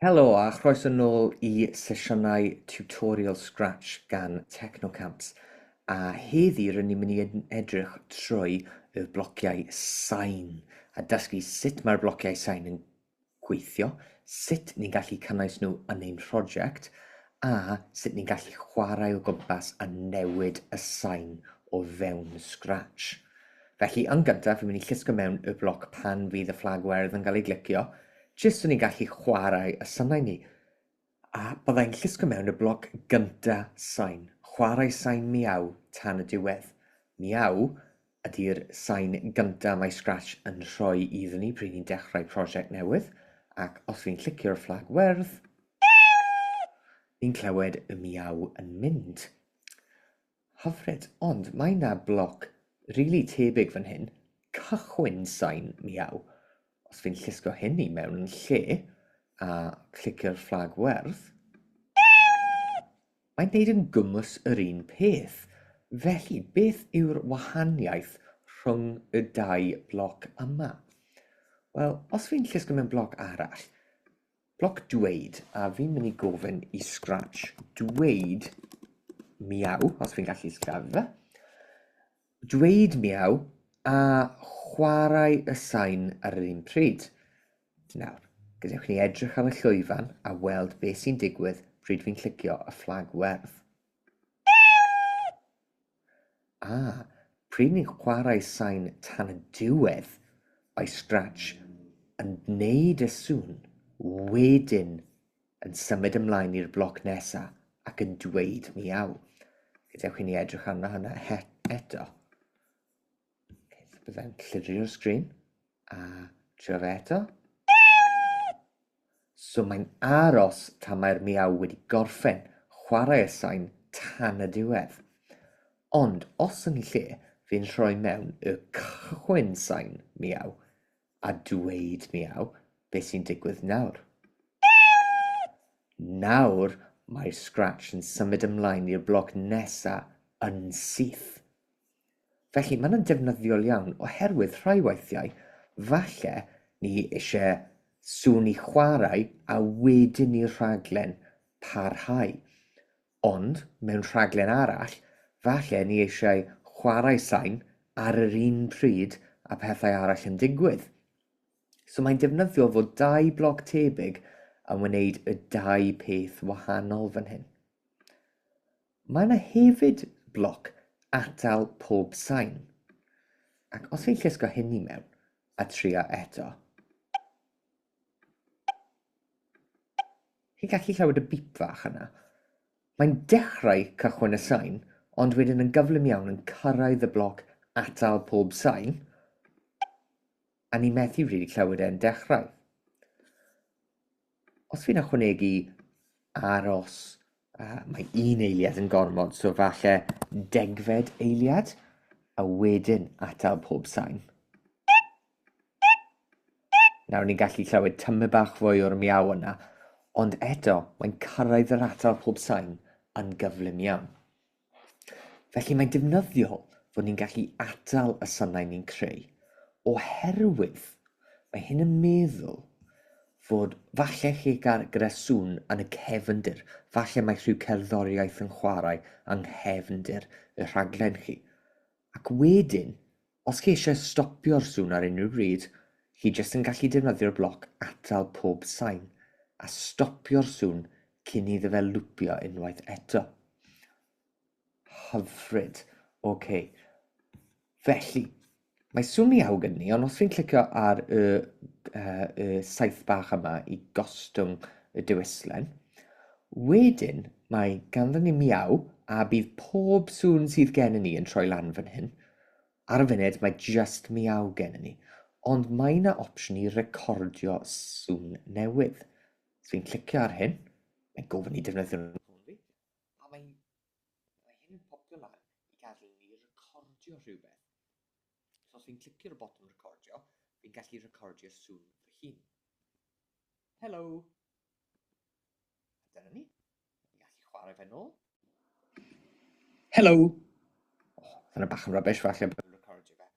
Helo a chroeso nôl i sesiynau tutorial Scratch gan Technocamps a heddi rydyn ni'n mynd i edrych trwy y blociau sain a dysgu sut mae'r blociau sain yn gweithio, sut ni'n gallu cynnwys nhw yn ein prosiect a sut ni'n gallu chwarae o gwmpas a newid y sain o fewn Scratch. Felly, yn gyntaf, fi'n mynd i llusgo mewn y bloc pan fydd y fflag werdd yn cael ei glicio, jyst so ni'n gallu chwarae y synau ni. A byddai'n llusgo mewn y bloc gynta sain. Chwarae sain miaw tan y diwedd. Miaw ydy'r sain gynta mae Scratch yn rhoi iddyn ni pryd ni'n dechrau prosiect newydd, ac os fi'n llicio'r fflag werdd, ni'n clywed y miaw yn mynd. Hyfryd, ond mae 'na bloc rili tebyg fan hyn, cychwyn sain miaw. Os fi'n llusgo hyn i mewn yn lle, a clicio'r fflag werdd, mae'n neud yn gwmws yr un peth. Felly, beth yw'r wahaniaeth rhwng y dau bloc yma? Wel, os fi'n llusgo mewn bloc arall, Bloc dweud, a fi'n mynd i gofyn i Scratch dweud miaw, os fi'n gallu sillafu fe. Dweud miaw a chwarae y sain ar yr un pryd. Nawr, gadewch ni edrych ar y llwyfan a weld beth sy'n digwydd pryd fi'n clicio y fflag werdd. A, pryd ni'n chwarae sain tan y diwedd, by scratch, yn gwneud y sŵn, wedyn yn symud ymlaen i'r bloc nesa ac yn dweud miaw. Gadewch i ni edrych arno hwnna eto. Byddai'n llirio'r sgrin a trio fe eto. So mae'n aros tan mae'r miaw wedi gorffen chwarae y sain tan y diwedd. Ond os yn lle, fi'n rhoi mewn y cychwyn sain miaw a dweud miaw beth sy'n digwydd nawr. Nawr mae'r scratch yn symud ymlaen i'r bloc nesa yn syth. Felly, maen nhw'n defnyddiol iawn oherwydd rhai weithiau, falle, ni eisiau sŵn i chwarae a wedyn i'r rhaglen parhau. Ond, mewn rhaglen arall, falle ni eisiau chwarae sain ar yr un pryd a pethau arall yn digwydd. So mae'n defnyddiol fod dau bloc tebyg yn wneud y dau peth wahanol fan hyn. Mae yna hefyd bloc atal pob sain, ac os fi'n llusgo hyn i mewn a trio eto, chi'n gallu chlywed y bip fach yna. Mae'n dechrau cychwyn y sain, ond wedyn yn gyflym iawn yn cyrraedd y bloc atal pob sain, a ni methu rili clywed e'n dechrau. Os fi'n ychwanegu aros, uh, mae un eiliad yn gormod, so falle degfed eiliad, a wedyn atal pob sain. Nawr ni'n gallu clywed tymu bach fwy o'r miaw yna, ond eto mae'n cyrraedd yr atal pob sain yn gyflym iawn. Felly mae'n defnyddiol fod ni'n gallu atal y sanau ni'n creu oherwydd mae hyn yn meddwl fod falle chi gael gyda sŵn yn y cefndir, falle mae rhyw cerddoriaeth yn chwarae yng nghefndir y rhaglen chi. Ac wedyn, Os chi eisiau stopio'r sŵn ar unrhyw bryd, chi jyst yn gallu defnyddio'r bloc atal pob sain a stopio'r sŵn cyn iddo fe lwpio unwaith eto. Hyfryd. OK. Felly, mae sŵn mi awg yn ni, ond os fi'n clicio ar y, uh, y saith bach yma i gostwng y dewislen, wedyn mae ganddo ni miaw a bydd pob sŵn sydd gen i ni yn troi lan fan hyn. Ar y funud mae jyst miaw gennym ni, ond mae 'na opsiwn i recordio sŵn newydd. Os fi'n clicio ar hyn, mae'n gofyn i defnyddio nhw ffôn fi, a mae, mae hyn yn popio lan i gadw ni recordio rhywbeth. So os fi'n clicio ar y botwm recordio, fi'n gallu recordio sŵn fy hun. Helo! A dyna ni. Gallu chwarae fe nôl. Hello. Oh, Dyna bach yn rubbish, falle bod yn recordio fe.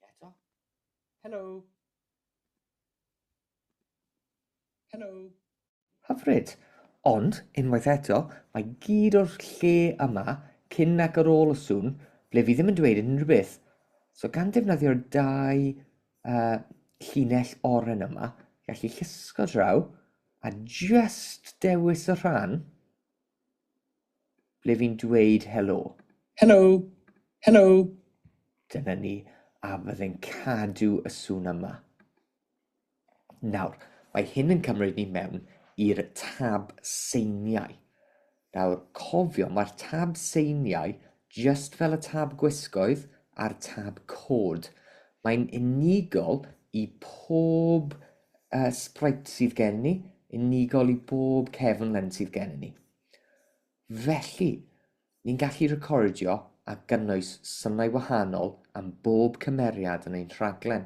Un eto. Hello. Hello. Hyfryd. Ond, unwaith eto, mae gyd o'r lle yma, cyn ac ar ôl y sŵn, ble fi ddim yn dweud unrhyw beth. So gan defnyddio'r dau uh, llinell oren yma, gallu llusgo draw, A jyst dewis y rhan ble fi'n dweud helo. Helo! Helo! Dyna ni, a fydde'n cadw y sŵn yma. Nawr, mae hyn yn cymryd ni mewn i'r tab seiniau. Nawr, cofio, mae'r tab seiniau jyst fel y tab gwisgoedd a'r tab cod. Mae'n unigol i pob uh, sprite sydd gen ni, unigol i bob cefn len sydd gen ni. Felly, ni'n gallu recordio a gynnwys synau wahanol am bob cymeriad yn ein rhaglen.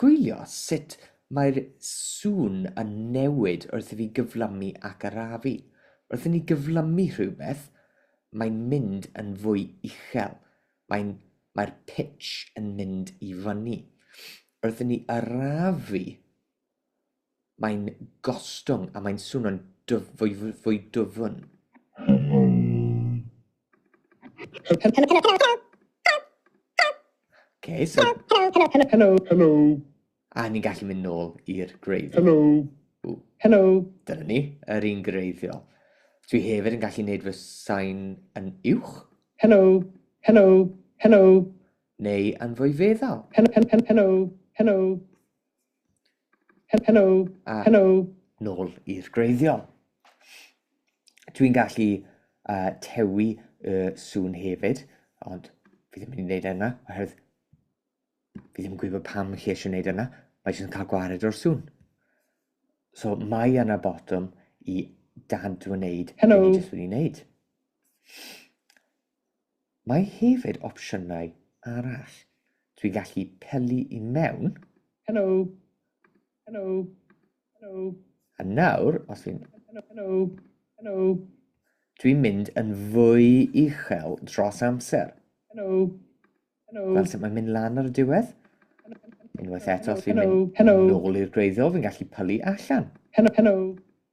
Gwylio sut mae'r sŵn yn newid wrth i fi gyflymu ac arafu. Wrth i ni gyflymu rhywbeth, mae'n mynd yn fwy uchel, mae'n, mae'r pitch yn mynd i fyny. Wrth i ni arafu, Mae'n gostwng a mae'n swnio'n fwy dwfn. A ni'n gallu mynd nôl i'r gwreiddiol. Dyna ni, yr un gwreiddiol. Dwi hefyd yn gallu neud fy sain yn uwch. Neu yn fwy feddal. Helo, a helo. Nôl i'r greiddiol. Dwi'n gallu uh, tewi y sŵn hefyd, ond fi ddim yn mynd i wneud e yna, oherwydd fi ddim yn gwybod pam chi eisiau gwneud e yna, mae jyst yn cael gwared o'r sŵn. So mae yna botwm i dad wneud Helo. ni jyst wedi wneud. Mae hefyd opsiynau arall. Dwi'n gallu pelu i mewn. Hello. Hello. Hello. A nawr, os fi'n... Hello. Hello. Hello. Dwi'n mynd yn fwy uchel dros amser. Hello. Hello. Fel sut mae'n mynd lan ar y diwedd. Unwaith eto, os fi'n mynd yn ôl i'r gwreiddiol, fi'n gallu pylu allan. Hello. Hello.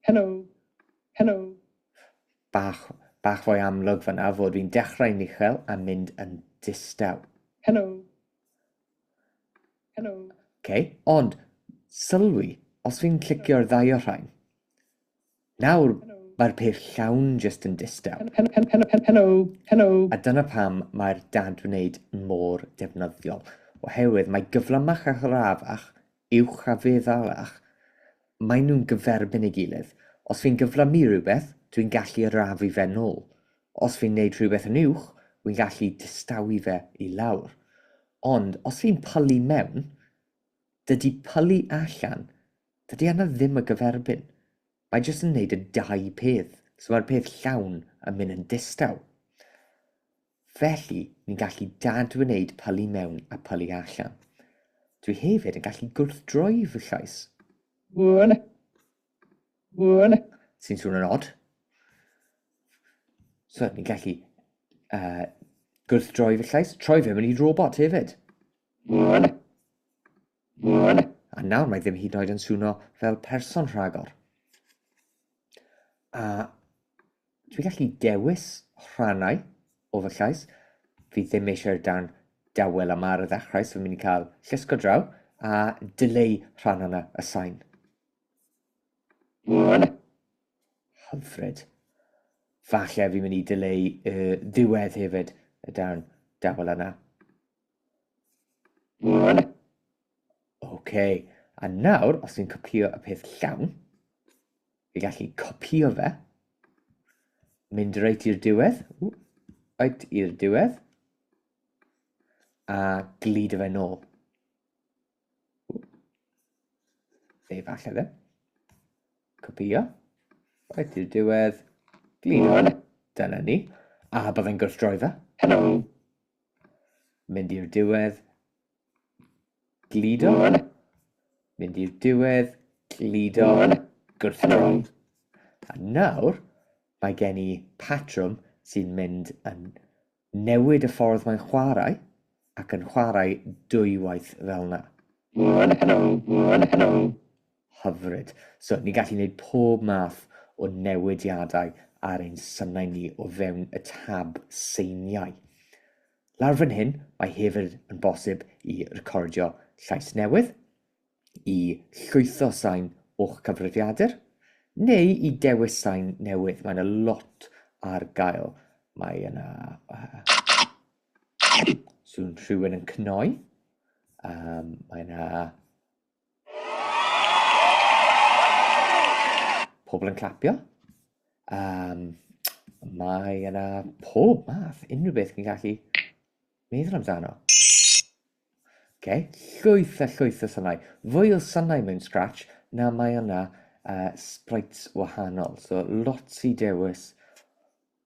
Hello. Hello. Bach, bach fwy amlwg fanna fod fi'n dechrau'n uchel a mynd yn distaw. Helo. Helo. OK, ond sylwi, os fi'n clicio'r ddau o'r rhain, nawr mae'r peth llawn just yn distaw. Helo, helo. A dyna pam mae'r dad wneud mor defnyddiol, oherwydd mae gyflymach a ghrafach uwch a fe ddalach, maen nhw'n gyferbyn ei gilydd. Os fi'n gyflymu rhywbeth, dwi'n gallu arafu fe'n nôl. Os fi'n neud rhywbeth yn uwch, wi'n gallu distawi fe i lawr. Ond os fi'n pylu mewn, dydy pylu allan, dydy yna ddim y gyferbyn. Mae jyst yn neud y dau peth, so mae'r peth llawn yn mynd yn distaw. Felly, ni'n gallu dadwneud pylu mewn a pylu allan. Dwi hefyd yn gallu gwrthdroi fy llais. Wn. Wn. Sy'n swn yn od. So, ni'n gallu uh, gwrthdroi fy llais, troi fe mewn i robot hefyd. Wn. Wn. A nawr mae ddim hyd yn oed yn swno fel person rhagor. A Dwi gallu dewis rhannau o fy llais. Fi ddim eisiau'r darn dawel yma ar y ddechrau, so fi'n mynd i cael llusgo draw a dileu rhan yna y sain. Hyfryd. Falle fi'n mynd i dileu y ddiwedd hefyd, y darn dawel yna. OK, a nawr, os dwi'n copio y peth llawn, fi gallu copio fe, mynd reit i'r diwedd, reit i'r diwedd, a glidio fe nôl. Fe falle fe. Copio, reit i'r diwedd, glidio, dyna ni, a byddai'n gwrthdroi fe. Hello. Mynd i'r diwedd. Gludo. Mynd i'r diwedd. Gludo. Gwrthryfel. A nawr, mae gen i patrwm sy'n mynd yn newid y ffordd mae'n chwarae ac yn chwarae dwywaith fel yna. Hyfryd. So, ni'n gallu gwneud pob math o newidiadau ar ein synau ni o fewn y tab seiniau. Lawr fan hyn, mae hefyd yn bosib i recordio llais newydd, i llwytho sain o'ch cyfrifiadur, neu i dewis sain newydd. Mae yna lot ar gael. Mae yna... Uh, swn rhywun yn cnoi. Um, mae yna Pobl yn clapio. Um, mae yna pob math, unrhyw beth chi'n gallu meddwl amdano. Okay. Llwyth a llwyth o sanau. Fwy o sanau mewn Scratch na mae yna uh, sprites wahanol. So lot i dewis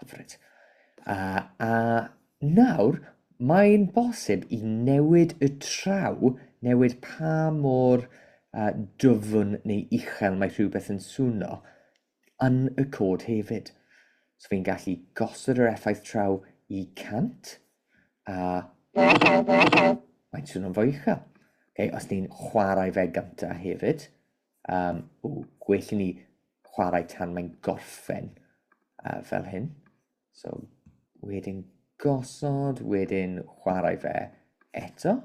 Hyfryd. A, a nawr, mae'n bosib i newid y traw, newid pa mor uh, dyfn neu uchel mae rhywbeth yn swno, yn y cod hefyd. So fi'n gallu gosod yr effaith traw i 100 a... Mae'n swno'n fwy uchel. Okay, os ni'n chwarae fe gyntaf hefyd, Um, o, gwell i ni chwarae tan mae'n gorffen uh, fel hyn. So, wedyn gosod, wedyn chwarae fe eto,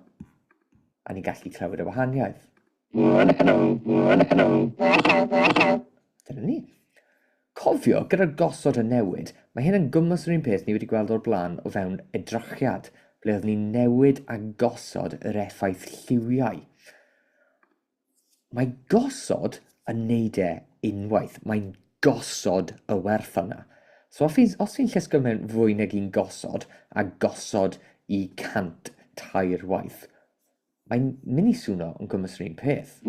a ni'n gallu clywed y wahaniaeth. Dyna ni. Cofio, gyda'r gosod y newid, mae hyn yn gwmwys yr un peth ni wedi gweld o'r blaen o fewn edrychiad, ble oedd ni'n newid a gosod yr effaith lliwiau. Mae gosod yn neud e unwaith, mae'n gosod y werth yna. So os fi'n, os fi'n llusgo mewn fwy nag un gosod, a gosod i cant tair waith, mae'n mynd i swno yn gwmys yr un peth.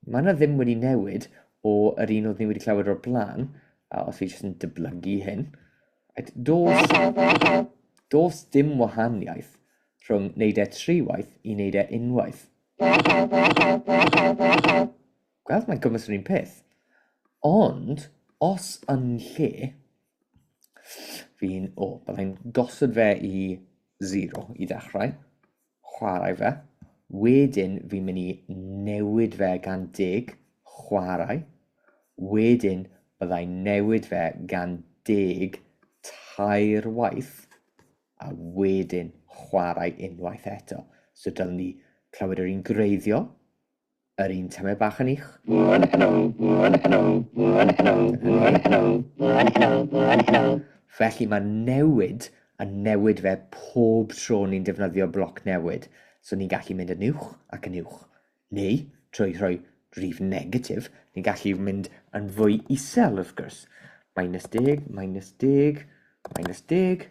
Mae yna ddim wedi newid o yr un oedd ni wedi clywed o'r blaen, a os fi jyst yn dyblygu hyn, dos, dos dim wahaniaeth rhwng wneud e tri waith i wneud e unwaith. Gweld mae'n gymys yr un peth. Ond, os yn lle, fi'n, o, byddai'n gosod fe i 0 i ddechrau. chwarae fe, wedyn fi'n mynd i newid fe gan deg chwarae, wedyn bydda i'n newid fe gan deg tair waith, a wedyn chwarae unwaith eto. So dylwn i clywed yr un gwreiddiol, Yr un tamaid bach yn eich. Felly mae newid yn newid fe pob tro ni'n defnyddio bloc newid. So ni'n gallu mynd yn uwch ac yn uwch. Neu, trwy rhoi rif negatif, ni'n gallu mynd yn fwy isel wrth gwrs. Minus deg, minus deg, minus deg,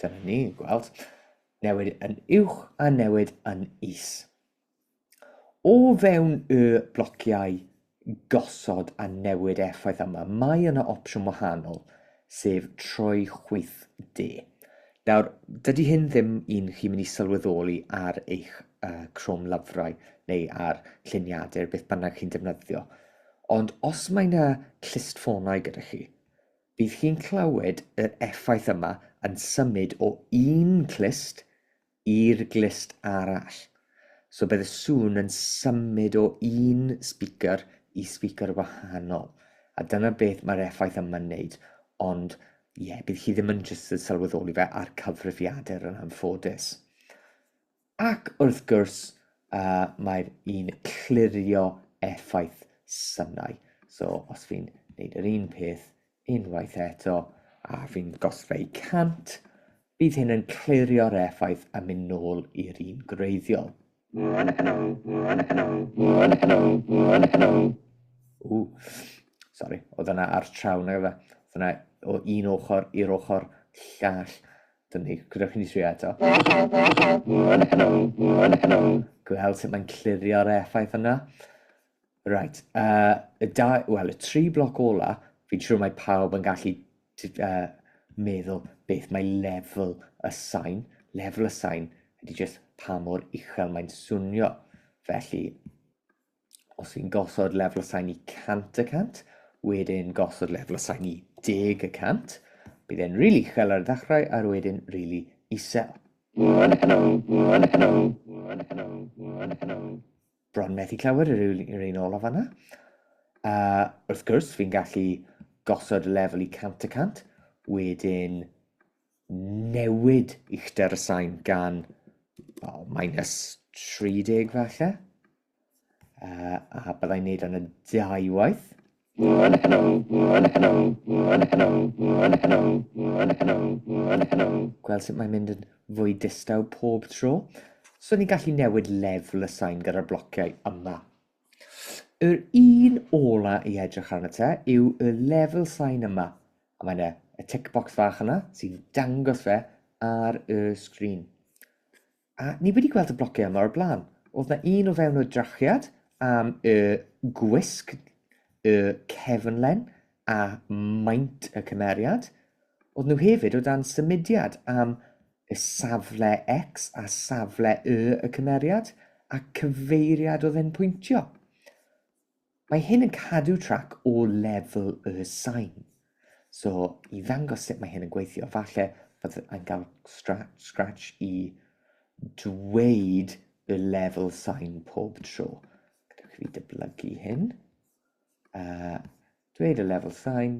Dyna ni'n gweld newid yn uwch a newid yn is. O fewn y blociau gosod a newid effaith yma, mae yna opsiwn wahanol sef troi chwith de. Nawr, dydy hyn ddim un chi mynd i sylweddoli ar eich uh, Chrome lyfrau neu ar lluniadau beth bynnag chi'n defnyddio. Ond os mae yna clustffonau gyda chi, bydd chi'n clywed yr effaith yma yn symud o un clust i'r glust arall. So bydd y sŵn yn symud o un speaker i speaker wahanol. A dyna beth mae'r effaith yma'n wneud. Ond ie, yeah, bydd chi ddim yn jyst yn sylweddoli fe a'r cyfrifiadur yn anffodus. Ac wrth gwrs, uh, mae'r un clirio effaith synau. So os fi'n gwneud yr un peth Unwaith eto, a fi'n gosfeu 100, bydd hyn yn clirio'r effaith a mynd nôl i'r un gwreiddiol. Ww, sori, oedd yna ar traw na gyda. Oedd yna o un ochr i'r ochr llall. Dyn ni, gyda chi'n trio eto. Gweld sut mae'n clirio'r effaith yna. Reit, uh, y dau, wel, y tri bloc ola, fi'n siŵr mae pawb yn gallu uh, meddwl beth mae lefel y sain. Lefel y sain ydy jyst pa mor uchel mae'n swnio. Felly, os fi'n gosod lefel y sain i 100 y cant, wedyn gosod lefel y sain i 10 y cant, bydd e'n rili really uchel ar y ddechrau a'r wedyn rili really isel. Hello, hello, hello, hello, hello, hello. bron methu clywed yr un, yr un olaf yna. A wrth gwrs, fi'n gallu gosod y lefel i 100 y 100, wedyn newid uchder y sain gan oh, minus 30 falle. Uh, a byddai'n neud yn y dau waith. Gweld sut mae'n mynd yn fwy distaw pob tro. So ni'n gallu newid lefel y sain gyda'r blociau yma. Yr un ola i edrych arno te yw y lefel sain yma. A mae yna y tick box fach yna sy'n dangos fe ar y sgrin. A ni wedi gweld y blociau yma o'r blaen. Oedd na un o fewn y drachiad am y gwisg, y cefnlen a maint y cymeriad. Oedd nhw hefyd o dan symudiad am y safle X a safle Y y cymeriad a cyfeiriad oedd e'n pwyntio. Mae hyn yn cadw trac o lefel y sain. So, i ddangos sut mae hyn yn gweithio, falle fod yn cael scratch i dweud y lefel sain pob tro. Gadewch i fi dyblygu hyn. Uh, dweud y lefel sain,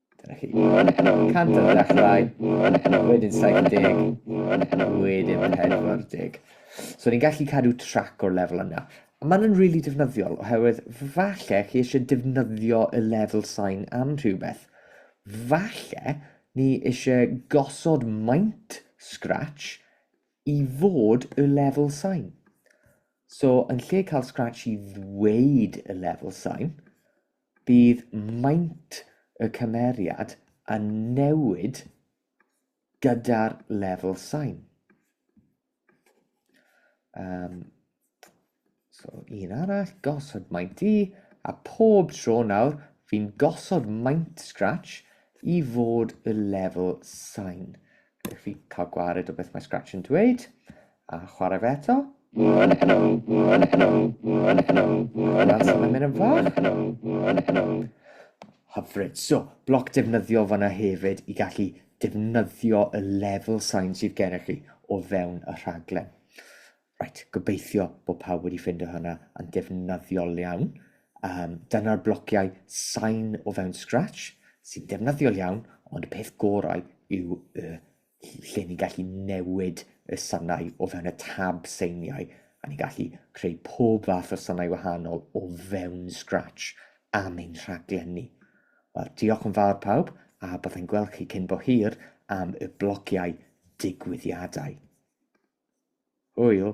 Dyna chi. 100 ar ddechrau, wedyn 70, wedyn 40. So ni'n gallu cadw trac o'r lefel yna. Mae'n yn rili really defnyddiol oherwydd falle chi eisiau defnyddio y lefel sain am rhywbeth. Falle ni eisiau gosod maint scratch i fod y lefel sain. So yn lle cael scratch i ddweud y lefel sain, Bydd maint y cymeriad yn newid gyda'r lefel sain. Um, so, un arall, gosod maint i, a pob tro nawr, fi'n gosod maint Scratch i fod y lefel sain. Ydych chi cael gwared o beth mae Scratch yn dweud. A chwarae fe eto. That's a minute fach. Hyfryd. So, bloc defnyddiol fanna hefyd i gallu defnyddio y level sign sydd gennych chi o fewn y rhaglen. Right, gobeithio bod pawb wedi ffindo hynna yn defnyddiol iawn. Um, dyna'r blociau sain o fewn Scratch sy'n defnyddiol iawn, ond y peth gorau yw y lle ni'n gallu newid y sanau o fewn y tab seiniau, a ni'n gallu creu pob fath o sanau wahanol o fewn Scratch am ein rhaglenni. Wel, diolch yn fawr pawb, a byddai'n gweld chi cyn bo hir am y blogiau digwyddiadau. Hwyl!